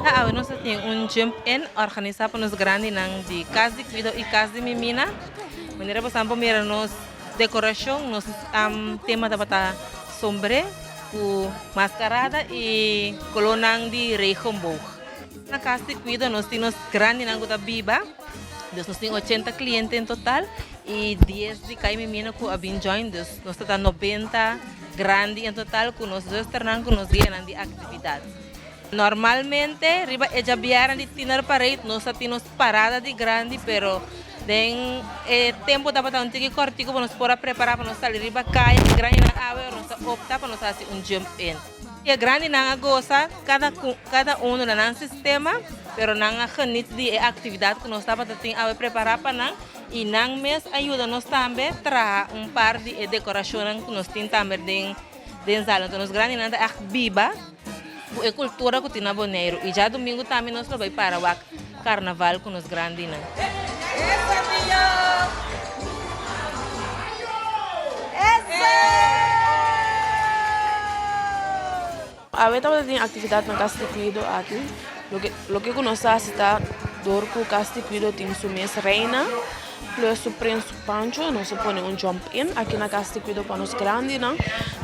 Ta awe nos a tin un Jump In organisá pa nos grandinan di Kas di Kuido i Kas di Mimina. Manera bosan por mira nos dekorashon, nos tema tabata sombré ku maskarada i kolónan di regenboog. Na Cas di Cuido nos tin nos grandinan cu ta biba, dus nos tin ochenta cliente en total y dies di cay miminan cu a bin join, dus nos ta ta noventa grandi en total cu nos zusternan cu nos gueanan di actividad. Normalmente riba e djabiaran di Tiener Parade nos ta tin nos parada di grandi pero den e tempo tabata un tiki cortico pa nos por a prepara pa nos sali riba caya y grandinan awe nos a opta pa nos haci un jump in. E grandinan a gosa kada ku kada uno na nan sistema, pero nan a genit di e aktividat ku nos tabata tin awe prepará pa nan i nan mes a yuda nos tambe traha un par di e dekorashonnan ku nos tin tambe den den zalnan. Enton nos grandinan ta ègt biba ku e kultura ku tin na Boneiru i djadumingu tambe nos lo bai para wak. Carnaval cu nos grandinan. Awe tabata tin actividad na Casa di Cuido aki. Loke cu nos hasi ta dor cu Casa di Cuido tin su mes reina. Nuestro Prins Pancho nos a pone un jump in aki na Cas di Cuido pa nos grandinan,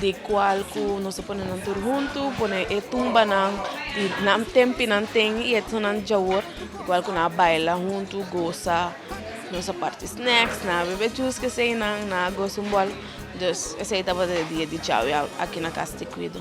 di cual cu nos a pone nan tur hunto, pone e tumbanan di nan tempi nan ten y etonan di djawor, di cual cu nan a baila hunto, goza, nos a parti snacks, nan a bebe juice cu eseynan, nan a goza un bol, dus esey tabata e dia di djawe aki na Cas di Cuido.